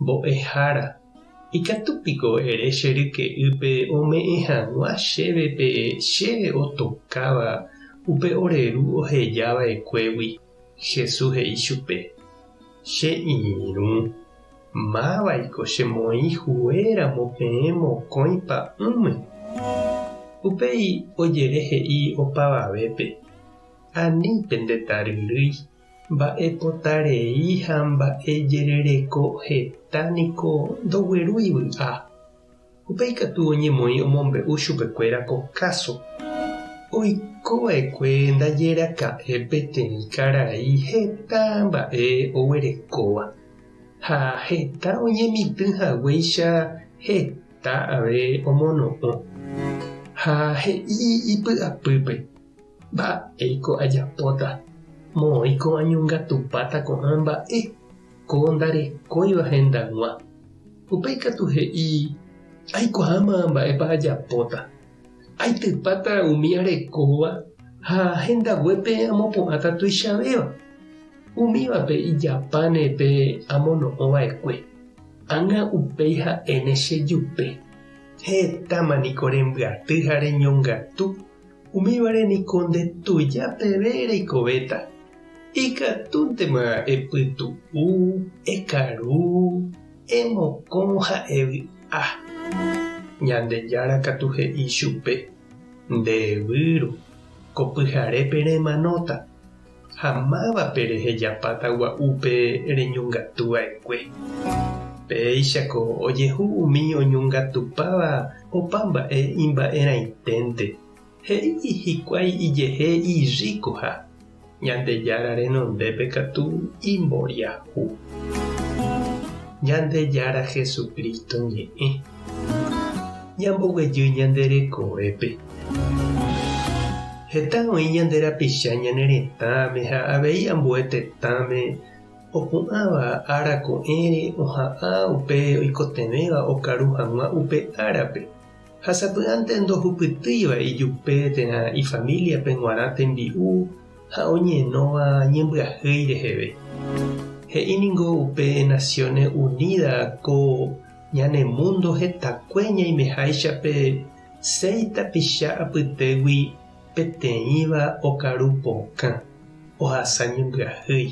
Mbo'ehára, ikatu piko ere che ryke'ýpe ome'ẽ hag̃ua chéve pe che otokáva upe ore ru oheja va'ekuégui? Jesús he'i chupe, Che irũ, mávaiko che moĩ hue ramo peẽ mokõi pa'ũme. Upéi ojere he'i opavavépe, Ani pende taryrýi. Mba'epota rei ha mba'e jerereko heta niko ndoguerúi vy'a. Upéi katu oñemoĩ omombe'u chupekuéra ko káso. Oiko va'ekue ndaje raka'e peteĩ karai heta mba'e oguerekóva, ha heta oñemitỹ haguéicha heta ave omono'õ. Ha he'i ipy'apýpe, Mba'éiko ajapóta? Moõi ko'ã ñongatupáta ko'ã mba'e, ko ndarekóiva hendag̃ua. Upéi katu he'i, Aikuaáma mba'épa ajapóta. Aitypáta umi arekóva ha hendaguépe amopu'ãta tuichavéva. Umívape ijapáne pe amono'õ va'ekue. Ág̃a upéi ha'éne che jupe, Hetáma niko rembyaty ha reñongatu. Umívare niko nde tuja peve reikovéta, ikatúntema epytu'u, ekaru, emokõ ha evy'a. Ñandejára katu he'i chupe, Nde evýru, ko pyharépe remanóta. ha mávape rehejapáta gua'úpe reñongatu va'ekue. Péichako ojehu umi oñongatupáva opa mba'e imba'erãiténte, he'i hikuái ijehe irríkoha, Ñandejára renondépe katu imboriahu. Ñandejára Jesucristo ñe'ẽ. Ñamboguejy ñande rekovépe. Heta oĩ ñande rapicha ñane retãme ha avei ambue tetãme opu'ãva ára ko'ẽre oha'ã upe oikotevẽva okaru hag̃ua upe árape ha sapy'ánte ndohupytýiva ijupe térã ifamíliape g̃uarã tembi'u ha oñenóva ñembyahýi reheve. He'i ningo upe Naciones Unidas ko Ñane múndo hetakue ñaimeháicha pe séi tapicha apytégui peteĩva okaru pokã, ohasa ñembyahýi.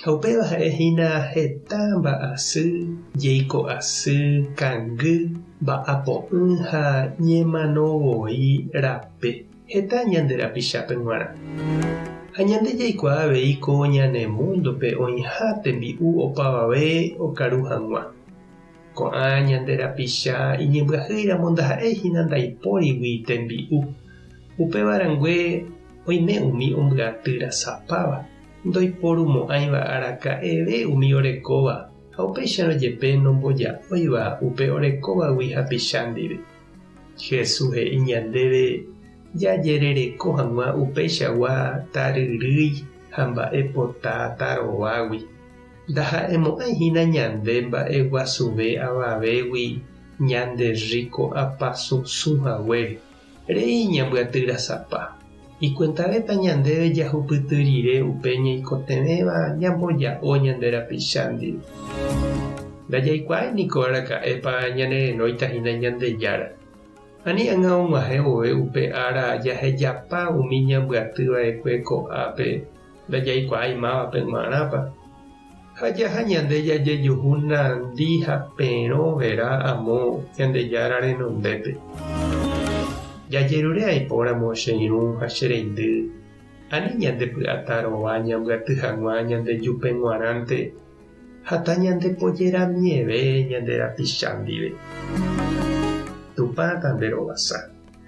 Ha upéva ha'e hína heta mba'asy, jeiko asy, kangy, mba'apo'ỹ ha ñemano voi rape. Heta ñande rapichápe g̃uarã ha ñande jaikuaa avei ko ñane múndope oĩha tembi'u opavave okaru hag̃ua. Ko'ã ñande rapicha iñembyahýiramo ndaha'éi hína ndaipórigui tembi'u. Upéva rangue oime umi ombyaty rasapáva, ndoiporumo'ãiva araka'eve umi orekóva ha upéicharõ jepe nomboja'óiva upe orekóvagui hapicha ndive. Jesús he'i ñandéve jajerereko hag̃ua upeichagua taryrýi ha mba'e pota tarovágui. Ndaha'emo'ãi hína ñande mba'e guasuve avavégui ñande rríko apasusu haguére, rei ñambyatyrasapa. Ikuentavépa ñandéve jahupyty rire upe ñaikotevẽva ñamboja'o ñande rapicha ndive? Ndajaikuaái niko araka'épa ñanerenóita hína Ñandejára. Ani ág̃a og̃uahẽ vove upe ára jahejapa umi ñambyatýva'ekue ko'ápe, ndajaikuaái mávape g̃uarãpa, ha jaha ñande jajejuhu nandi ha perõ vera amo Ñandejára renondépe. Jajerure aipóramo che irũ ha che reindy, ani ñandepy'ata rova ñambyaty hag̃ua ñande jupe g̃uarãnte ha tañandepojeramieve ñande rapicha ndive. Tupã tanderovasa.